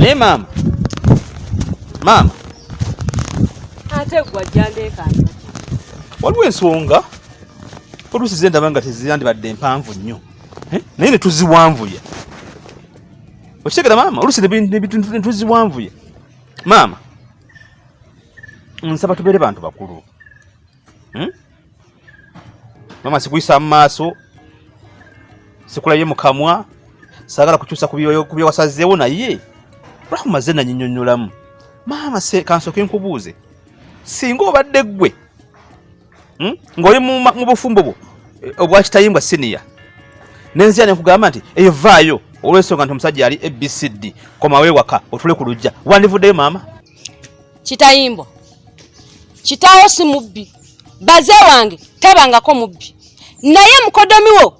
Naye maama, maama, ate gwe ajja ndeekaana. Waliwo ensonga oluusi ze ndaba nga teziyandibadde mpanvu nnyo eh? naye ne tuziwanvuya. Okitegera maama, oluusi ne tuziwanvuya. Maama, nsaba tubeere bantu bakulu. hmm? mama sikuyisa mu maaso sikulabye mu kamwa saagala kukyusa ku bye wasazeewo naye rahuma ze nanyinyonyolamu maama kansoke nkubuuze singa obadde ggwe hmm? ng'oli mu bufumbo bwo eh, obwakitayimbwa siniya nenzira nekugamba nti eyo vaayo olwensonga nti omusajja yali abcd komawe waka otule ku lujja wandivuddeyo maama kitayimbwa kitaawo si mubbi baze wange tabangako mubbi naye mukodomi wo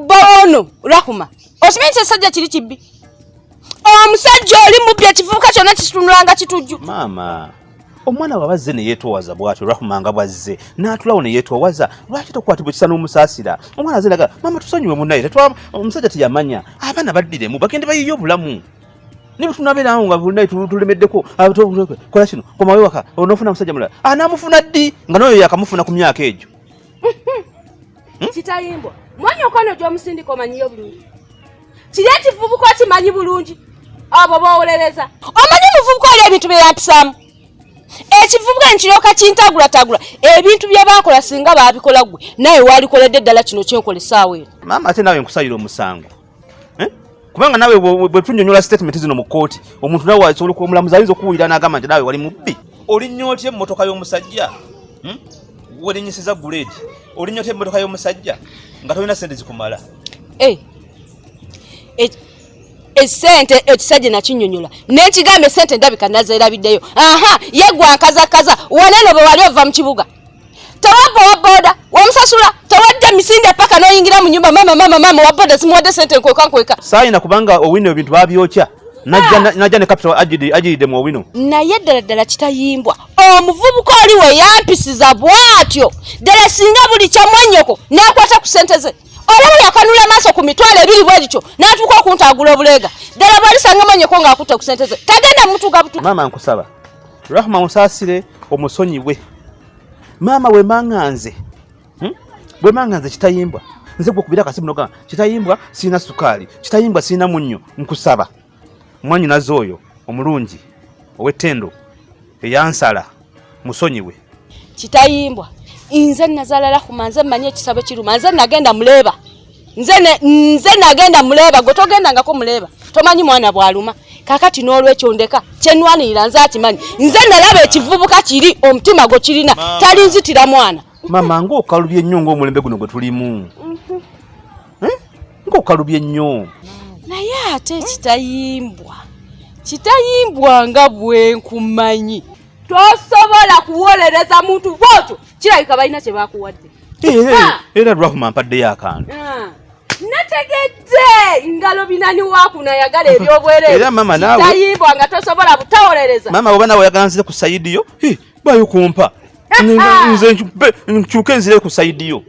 bawono rahuma okimanyi nti esajja kiri kibbi omusajja oli mubbi ekivubuka kyonna kitunulanga kitujju maama omwana wabazze neyetowaza bwatyo rahuma nga bwazze natulawo neyetowaza lwaki tokwatibwa ekisa n'omusaasira omwana aze naga maama tusonyiwe munaye omusajja teyamanya abaana baddiremu bagende bayiye obulamu ne bwe tunabeera awo nga buli naye tulemeddeko kola kino komawo ewaka onoofuna musajja mulala anaamufuna ah, ddi nga n'oyo yakamufuna ku myaka egyo hmm? kitayimbwa mwanyi okwano gy'omusindika omanyiyo bulungi kiri ekivubuka okimanyi bulungi abo boowolereza omanyi omuvubuka oli ebintu bye yampisaamu ekivubuka nekiryoka kintagulatagula ebintu bye baakola singa baabikola ggwe naye waalikoledde ddala kino kyenkola essaawa eno maama ate naawe nkusayira omusango eh? kubanga nawe bwe tunyonyola statement zino mu kkooti omuntu nawe asobola okuba omulamuzi ayinza okuwulira n'agamba nti nawe wali mubbi olinya otya emmotoka y'omusajja hmm? werinyisiza guleedi olinya otya emmotoka y'omusajja nga tolina sente zikumala eh. Eh, esente ekisajja nakinyonyola nekigambo esente ndabika nazerabiddeyo aha yegwakazakaza waneno bwewali ova mu kibuga tewabba waboda wamusasula tewadda misinde paka noyingira mu nyumba mama mama mama waboda zimuwadde sente nkweka nkweka sayina kubanga owino ebintu babyokya najja ah. ne capital ajiride mu owino naye ddala ddala kitayimbwa omuvubuka oli we yampisiza bwatyo ddala singa buli kyamwanyoko nakwata ku sente ze olaba yakanula maaso ku mitwalo ebiri bwe lityo n'atuuka okuntagula obuleega ddala bwalisanga manyeko ng'akutte ku sente ze tagenda mutuga butuga maama nkusaba rahma musasire omusonyiwe maama wemanganze hmm? wemanganze kitayimbwa nze gwekubira akasimu noga kitayimbwa sirina sukaali kitayimbwa sirina munnyo nkusaba mwanyinaze oyo omulungi owetendo eyansala musonyiwe kitayimbwa nze nazala rahuma nze manyi ekisabo kiruma nze nagenda muleba nze nze nagenda muleba gwe togendangako muleba tomanyi mwana bwaluma kakati n'olwekyo ndeka kyenwanirira nze akimanyi nze nalaba ekivubuka kiri omutima gwe kirina talinzitira mwana mama ngaokalubye nnyo ngaomulembe guno gwe tulimu mhm. eh? ngaokalubye nnyo naye ate kitayimbwa kitayimbwa nga bwenkumanyi tosobola kuwolereza muntu bwotyo kirabika balina kye bakuwadde eh, eh, eh, era rahuma mpaddeyo akantu ah. nategedde ngalo binani wakuna yagala ebyobwereeritayibwa nga tosobola butawolereza mama oba nawe oyagala nzire ku sayidi yo bayo kumpa nze nkyuke nzire ku sayidi yo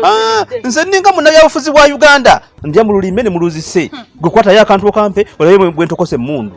ah, nze ninga munabyabufuzi bwa uganda ndya mululime ne muluzise hmm. gwe kwatayo akantu okampe olabe bwentokose emundu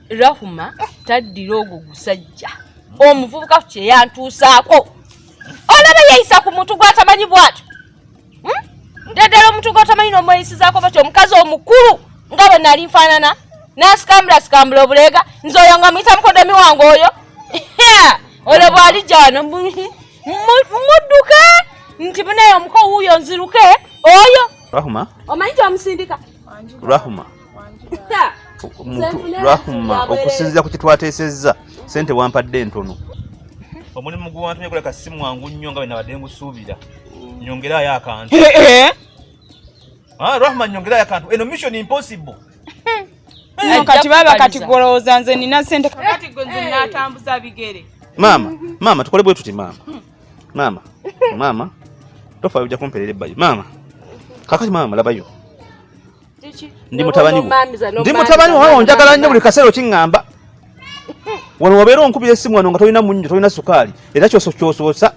rahuma taddira ogwo gusajja omuvubuka kyeyantuusaako olaba yeyisa ku muntu gwatamanyi bwatyo hmm? ddala omuntu gwatamanyi nomweyisizaako batyo omukazi omukulu nga bwe nali nfaanana nasikambula sikambula obuleega nze oyo nga muyita mukodomi wange oyo olwo bwali jano mudduke nti munaye omuko wuuyo nziruke oyo rahuma omanyi kyomusindika rahuma lwakumma okusinzira ku kyetwateesezza sente wampadde entono omulimu gwewantumye guleka si mwangu nnyo nga bwenabadde ngusuubira nyongerayo akantu eh, eh. ah, rahma nyongerayo akantu eno mission impossible kati baba kati golowooza nze nina sente kakati gwe nze natambuza bigere maama maama tukole bwe tuti maama maama maama tofa ojja kumperera ebbayo maama kakati maama labayo ndi mutabani ndi mutabani wawe onjagala nnyo buli kaseera okiŋŋamba wano wabeera onkubira essimu wano nga tolina munnyo tolina sukaali era kyoso kyosoosa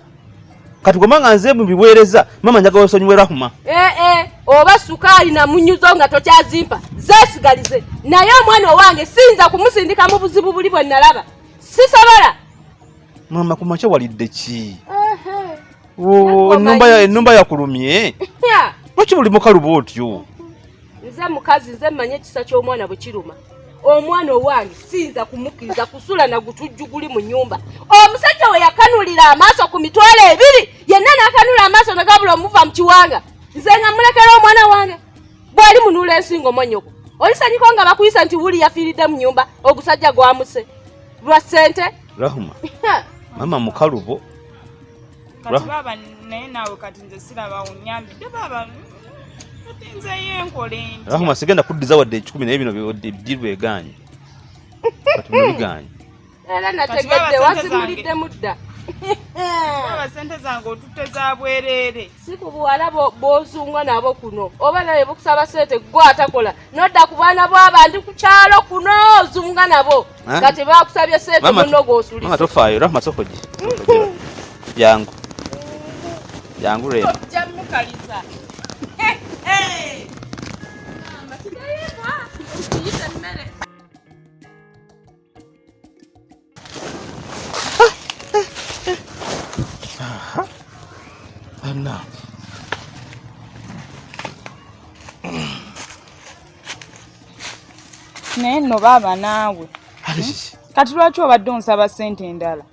kati goma nga nze mubiweereza mama njagala osonyiwe rahuma ee eh, eh, oba sukaali na munyuzo nga tokyazimpa zesigalize naye omwana owange siyinza kumusindika mu buzibu buli bwe nalaba sisobola mama kumakya walidde ki eh. Oh, enumba yakulumye lwaki buli mukaluba otyo nze mukazi nze mmanyi ekisa ky'omwana bwe kiruma omwana owange siyinza kumukkiriza kusula na gutujju guli mu nyumba omusajja we yakanulira amaaso ku mitwalo ebiri yenna n'akanula amaaso nagabula omuva mu kiwanga nze nga mulekera omwana wange bwali munula ensingo monyoko olisanyiko nga bakuyisa nti wuli yafiiridde mu nyumba ogusajja gwamuse lwa ssente rahuma mama mukalubo kati baaba naye naawe kati nze sirabawo nyambidde baaba nzeyo enkola enti rahuma sigenda kuddiza wadde ekikumi naye bino biddirwa egaanyi kati bino bigaanyi era nategedde wasimulidde mudda baaba sente zange otutte za bwereere si ku buwala bozungwa nabo kuno oba naye bukusaba sente gwe atakola nodda ku baana bwabantu ku kyalo kuno ozunga nabo eh? kati bakusabye sente muno gwosulisa tofaayo rahma sokoji jangu jangu rema jamukaliza Anna. naye nno baaba naawe kati lwaki obadde onsaba ssente endala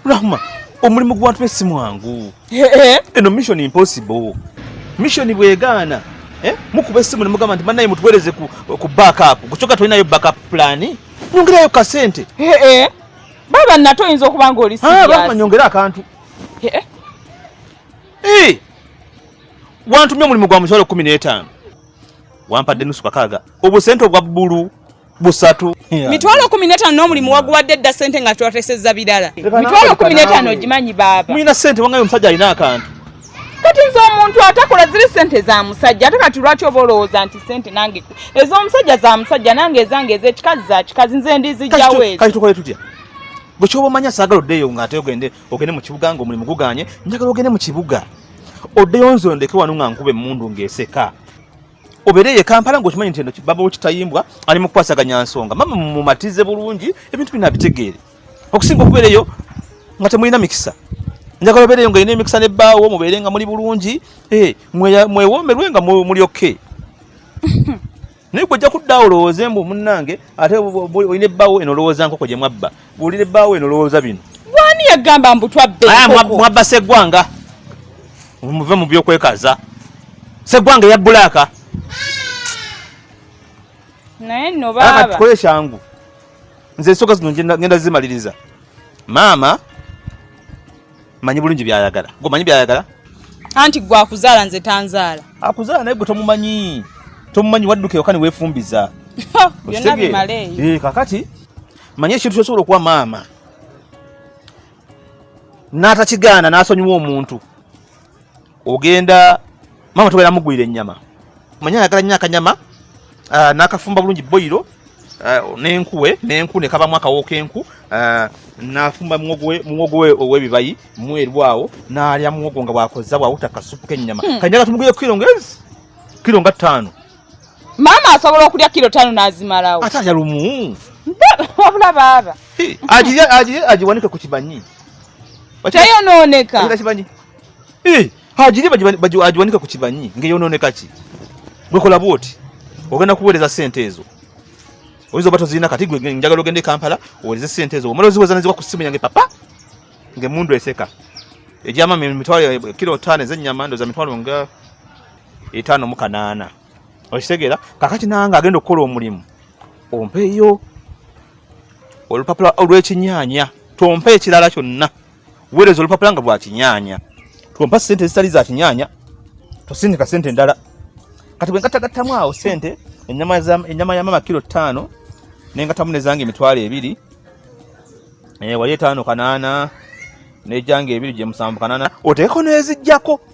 Rahma, omulimu gw'abantu be si mwangu. Eno mission impossible. Mission bwegaana eh? mukuba essimu ne mugamba nti bannaye mutuweereze ku, ku backup kukyoka tolinayo backup plan nyongerayo kasente baba nato oyinza okuba nga oli ah, nyongera akantu wantumye omulimu gwa mukyalo kumi n'etaano wampadde nusu kakaaga obusente obwa bbulu busatu mitwalo kumi n'etaano n'omulimu waguwadde dda sente nga twateseza birala mitwalo kumi n'etaano ogimanyi baaba mulina sente wangayo omusajja alina akantu kati nze omuntu atakola ziri sente za musajja ate kati lwaki oba olowooza nti sente nange ez'omusajja za musajja nange ezange ez'ekikazi za kikazi nze ndizijjawo ezo kati tukole tutya bwe kyoba omanya saagala oddeeyo nga ate ogende ogende mu kibuga nga omulimu guganye njagala ogende mu kibuga oddeyo nze ondeke wano nga nkuba emmundu ng'eseka obeere ye kampala ngaokimanyi nti eno baba wekitayimbwa ali mukukwasaganya nsonga mama mumatize bulungi ebintu bino abitegeere okusinga okubeereyo nga temulina mikisa njagala obeereyo nga olina emikisa ne bbaawo mubeere nga muli bulungi eh, mwewoomerwe nga muli oke naye gwe ojja kudda olowooze mbu munnange ate olina ebbaawo eno olowooza nkoko gye mwabba Wulire bawe no lowoza bino. Wani ya gamba mbu twabbe. Aya mwabba segwanga. Muve mu byo kwekaza. Segwanga ya bulaka. Naye no baba. Aka tukole shangu. Nze soka zino ngenda zimaliriza. Mama manyi bulungi byayagala. Gwe manyi byayagala? Anti gwa kuzala nze tanzala. Akuzala naye gwe tomumanyi. Tomumanyi wadduke okani wefumbiza. Yona bimale. Eh kakati manya ekintu kyosobola okuwa maama n'atakigaana n'asonyiwa omuntu ogenda maama togenda mugulira ennyama manya ayagala nnyo akanyama ah, n'akafumba bulungi boyiro ah, n'enkuwe n'enku ne kabamu akawo k'enku ah, n'afumba muwogo we ow'ebibayi mweru awo n'alya muwogo nga bwakozza bwawuta kasupu k'ennyama hmm. kanyaga tumugulire kiro nga kiro nga ttaano maama asobola okulya kiro tano nazimalawo ate alya lumu wabula baaba agirya agirya agiwanike ku kibanyi teyonooneka kibanyi agirya agiwanike ku kibanyi ngeyonooneka ki gwekola bwoti ogenda kuweereza sente ezo oyinza oba tozirina kati gwe njagala ogende e kampala owereze sente ezo omala oziweza neziwa ku simu yange papa ngemundu eseka egyamama emitwalo kiro taano ezenyama ndoza mitwalo nga etaano mu kanaana okitegeera kakati nange agenda okukola omulimu ompeeyo olupapula olw'ekinyaanya tompa ekirala kyonna weereza olupapula nga lwa kinyaanya tompa sente ezitali za kinyaanya tosindika sente endala kati bwe ngatagattamu awo sente ennyama ya mama kiro ttaano nengatamu nezange emitwalo ebiri eh, wali etaano kanaana nejanga ebiri gyemusanvu kanaana oteekeko nezijjako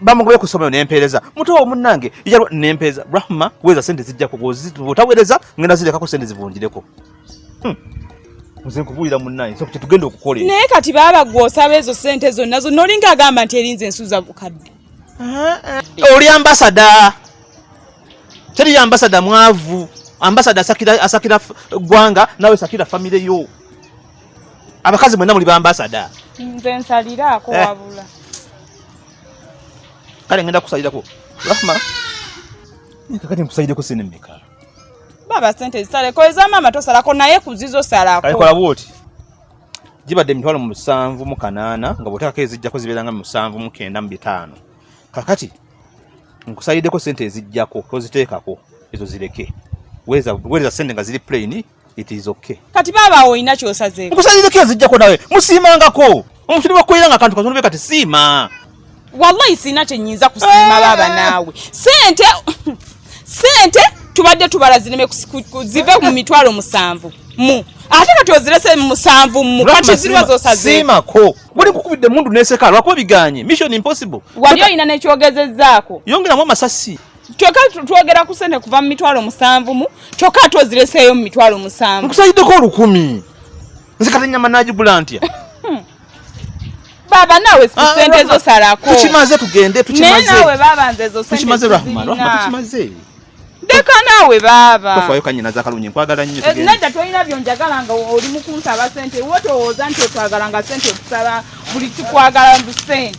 bamugobye ku ssomero nempeereza mutowo munnange ijalwa nempeereza rahma kuweza sente zijjako otaweereza ngenda zirekako sente zivunjireko hmm. nze nkubuulira munnange so kyetugenda okukola naye kati baaba gwe osaba ezo sente zonna zonna olinga agamba nti erinza ensuza bukadde eh, oli ambasada teri ambasada mwavu ambasada asakira gwanga nawe sakira famire yo abakazi mwena muli bambasada nze nsaliraako eh. wabula kale ngenda kusalirako rahma kakati nkusalireko sente mmeka baba sente zisaleko eza maama tosalako naye kuzizo salako kalikola bwoti gibadde emitwalo musanvu mu kanaana nga bwoteekako ezijjako zibeera nga musanvu mu kenda mu bitaano kakati nkusaliddeko sente ezijjako toziteekako ezo zireke weereza sente nga ziri puleyini it is okay kati baba awo olina kyosazeeko nkusazizeko ezijjako nawe musiimangako omusiri wakukolera nga kantu katonda be kati siima wallahi sirina kyenyinza kusiima baba eh. naawe sente sente tubadde tubala zireme zive mu mitwalo musanvu mu ate kati ozirese musanvu mu kati ziriwa zosazimako buli kukubidde mundu neseka lwakuba biganye mission impossible wali olina nekyogezezaako yongeramu amasasi kyoka twogera ku sente kuva mu mitwalo musanvu mu kyoka ate ozireseeyo mu mitwalo musanvu nkusaliddeko olukumi nze kata enyama nagigula ntya hmm. baba nawe ah, sente ezo salako tukimaze tugende tukimazenawe baba nze ezo tukimaze rahma rahma tukimaze deka nawe baba tofayo kanyina zakalunye nkwagala nnyo eh, nedda tolina byonjagala nga oli mukunsaba sente wotowooza nti otwagala nga sente otusaba buli kikwagala mu sente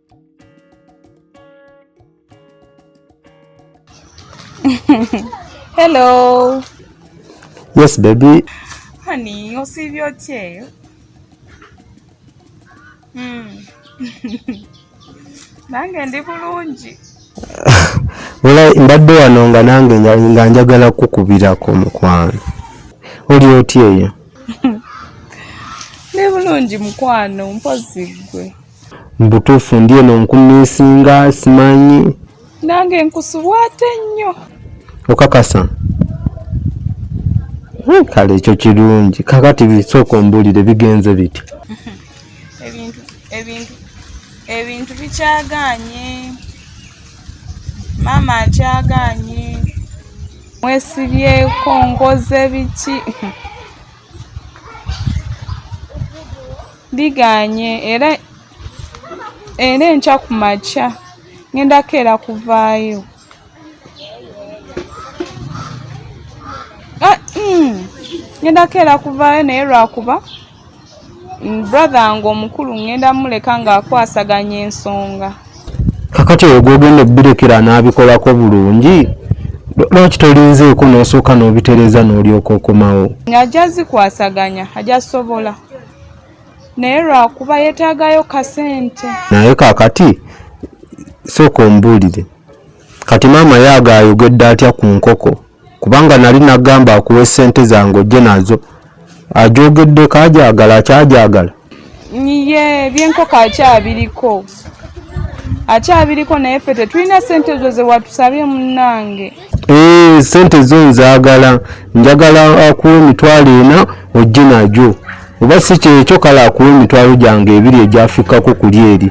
Hello. Yes, baby. Honey, osiibye otya eyo? Hmm. Nange ndi bulungi. Wala mbadde wano nga nange nga njagala kukubirako mukwano. Oli otya eyo? Ndi bulungi mukwano, mpozi ggwe. Mbutuufu ndi eno nkumisinga simanyi. Nange nkusubwa ate nnyo. Okakasa? Hmm, kale ekyo kirungi. Kakati bisooka ombulire bigenze biti. Ebintu ebintu ebintu bikyaganye. Maama akyaganye. Mwesibyeko nkoze biki? Ndigaanye era era enkya ku makya ngenda keera kuvaayo. Ah, mm, ngenda keera kuvaayo naye lwakuba mm, brother nga omukulu ngenda muleka ng'akwasaganya ensonga. Kakati oyo gwogenda obbirekera anaabikolako bulungi lwaki tolinzeeko n'osooka n'obitereeza n'olyoka okomawo. Ng'ajja zikwasaganya ajja sobola. naye lwakuba yetagayo kasente naye kakati sooka ombuulire kati maama yaaga ayogedde atya ku nkoko kubanga nali nagamba akuwa esente zange ojje nazo ajogeddeko ajagala akyajagala ye byenkoko akyabiriko akyabiriko naye fe tetulina sente ezo zewatusabye munange Eh, sente zo nzagala njagala akuwa emitwalo ena ojje najo oba si kyekyo kale akuwa emitwalo gyange ebiri egyafikkako kuli eri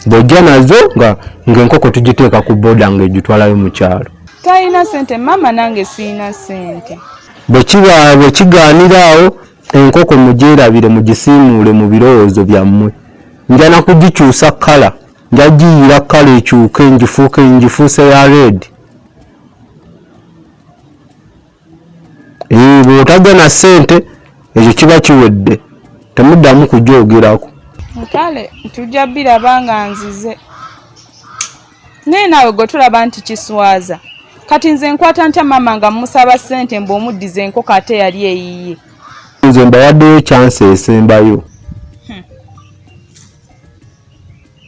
bwojja nazo nga ngaenkoko tugiteeka ku boda nga egitwalayo mu kyalo talina sente maama nange siina sente bwekiba bwekigaanira awo enkoko mugyerabire mugisiimuule mu birowoozo byammwe njana kugikyusa kkala njagiyira kkala ekyuke ngifuuke ngifuuse ya red eh, bwotajja na ssente ekyo kiba kiwedde temuddamu kujoogerako kale tujja biraba nga nzize naye naawe gwe tulaba nti kiswaza kati nze nkwata ntya maama nga mumusaba ssente mbu omuddiza enkoko ate yali eyiye nze mbawaddeyo kyansi esembayo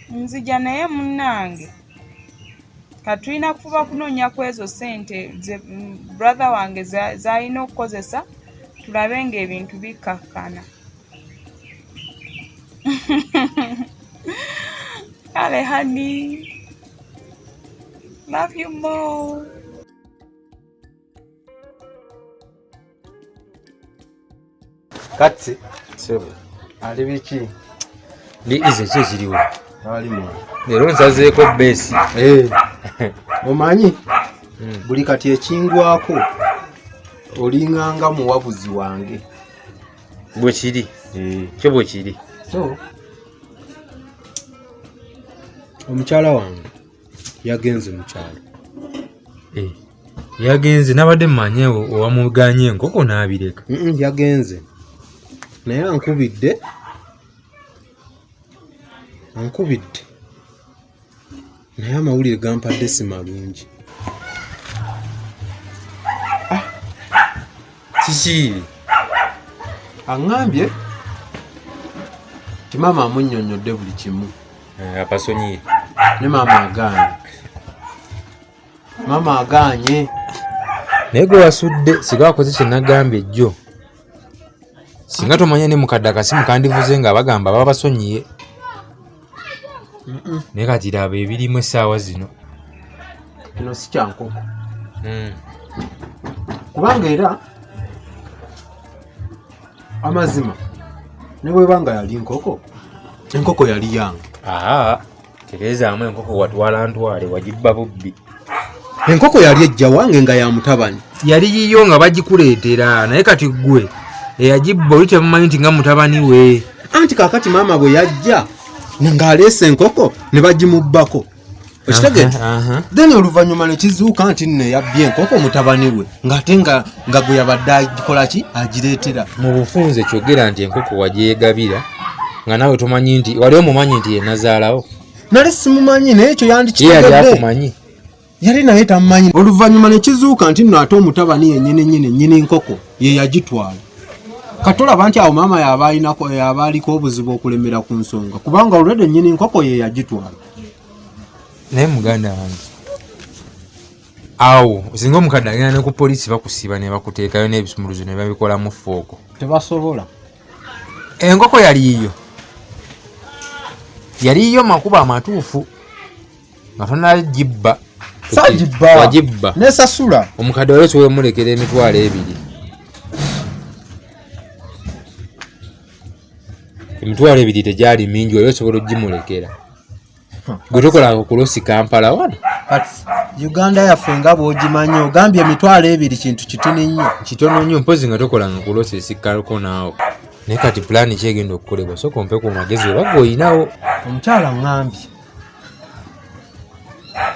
nzija naye munnange katulina kufuba kunoonya ku ezo ssente brother wange zalina okukozesa tulabe ng'ebintu bikkakkana kale hani love you more Kati sebo ali biki ndi ize kye kiriwo ali mu lero nsazeeko besi eh omanyi hmm. buli kati ekingwako olinganga muwabuzi wange bwe kiri eh. kyo bwe kiri so omukyala wange yagenze mukyalo eh. yagenze nabadde mumanye owamuganye enkoko nabireka yagenze naye ankubidde ankubidde naye amawulire gampadde si malungi ah! kiki aŋambye ti maama amunyonyodde buli kimu eh, apasonyiye ne maama agaana maama agaanye naye gwe wasudde siga wakoze kyenagambye jjo singa tomanya ne mukadde akasimu kandivuze nga bagamba baba basonyiye naye kati laba ebirimu essaawa zino kino si kyankoko hmm. kubanga era amazima ne bweba nga yali nkoko enkoko yali yange tereezaamu enkoko watwala ntwale wagibba bubbi enkoko yali ejja wange nga ya mutabani yali yiyo nga bagikuleetera naye kati ggwe eyagibba oli temumanyi nti nga mutabani we anti kakati maama bwe yajja ng'aleesa enkoko ne bagimubbako okitegee then oluvannyuma ne kizuuka nti nno eyabbye enkoko mutabani we ng'ate nga nga gwe yabadde agikola ki agireetera mu bufunze kyogera nti enkoko wagyegabira nga naawe tomanyi nti wali omumanyi nti yenazaalawo nali simumanyi naye ekyo yandikiyakumanyi yali naye tamumanyi oluvannyuma ne kizuuka nti nno ate omutabani yenyini nyini nyini nkoko ye yagitwala katolaba nti awo maama yaba alinako yaba aliko obuzibu okulemera ku nsonga kubanga olwede nyini nkoko ye yagitwala naye muganda wange awo singa omukadde agenda ne ku poliisi bakusiba ne bakuteekayo n'ebisumuluzo ne babikolamu fooko tebasobola enkoko yali yiyo yali yiyo makubo amatuufu nga tonagibba sagibba nesasula omukadde wali osobola omulekera emitwalo ebiri emitwalo ebiri tegyali mingi wali osobola ogimulekera gwe tokolanga okulosi kampala wano uganda yaffe nga bwogimanyi ogambye emitwalo ebiri kintu kitini nnyo kitono nnyo mpozi nga tokolanga okulosi esikkalko naawo naye kati pulaani kyegenda okukolebwa soka ompe ku magezi obaga olinawo omukyala ŋambi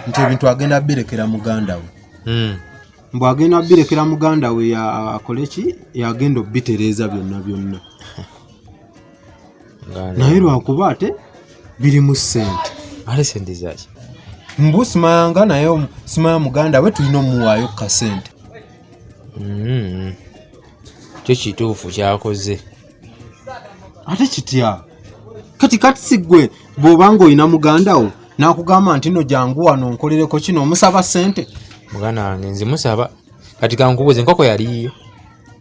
nti ebintu agenda birekera muganda we hmm. mbu agenda birekera muganda we akole ki yagenda obitereeza byonna byonna naye lwakuba ate birimu sente ale sente zaki mbu simayanga naye simaya muganda we tulina omuwaayo kukasente mm-hmm. kyo kituufu kyakoze ate kitya kati kati sigwe bwoba nga olina muganda wo nakugamba nti no jangu wano nkolereko kino omusaba sente muganda wange nzimusaba kati kankubuuza enkoko yaliyo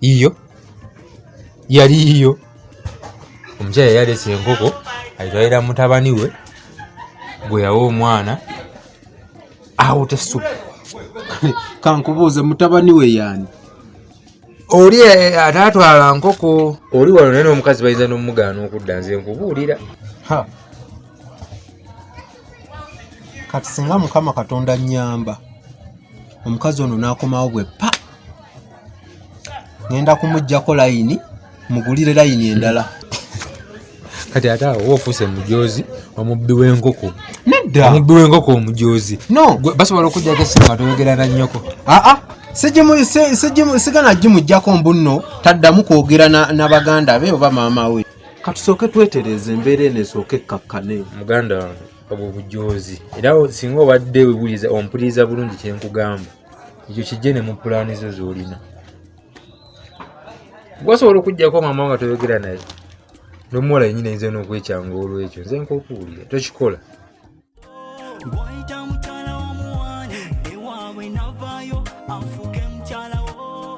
yiyo yali yiyo omukyala yalesa enkoko aitwalira mutabani we gwe yawa omwana awo tesu kankubuuze mutabani we yani oli eh, eh, ataatwala nkoko oli wano naye n'omukazi bayinza n'omugaana okudda nze nkubuulira kati singa mukama katonda nyamba omukazi ono n'akomawo bwe pa ngenda kumujjako layini mugulire layini endala kati ate awo ofuuse mujoozi omubbi w'enkoko nedda omubbi w'enkoko omujoozi no basobola okujjako esimu nga toyogera na nnyoko aa ah, ah. sigana gimugjako mbunno taddamu kwogera na baganda be oba maama we katusooke twetereza embeera eno esooke ekkakkane muganda wange obwo bujoozi era singa obadde wewuliza ompuliriza bulungi kyenkugamba ekyo kijje ne mu pulaani zo z'olina gwasobola okugyako maama nga toyogera naye nomuwala yenyini ayinza nokwekyanga olwekyo nze nkokuwulira tokikola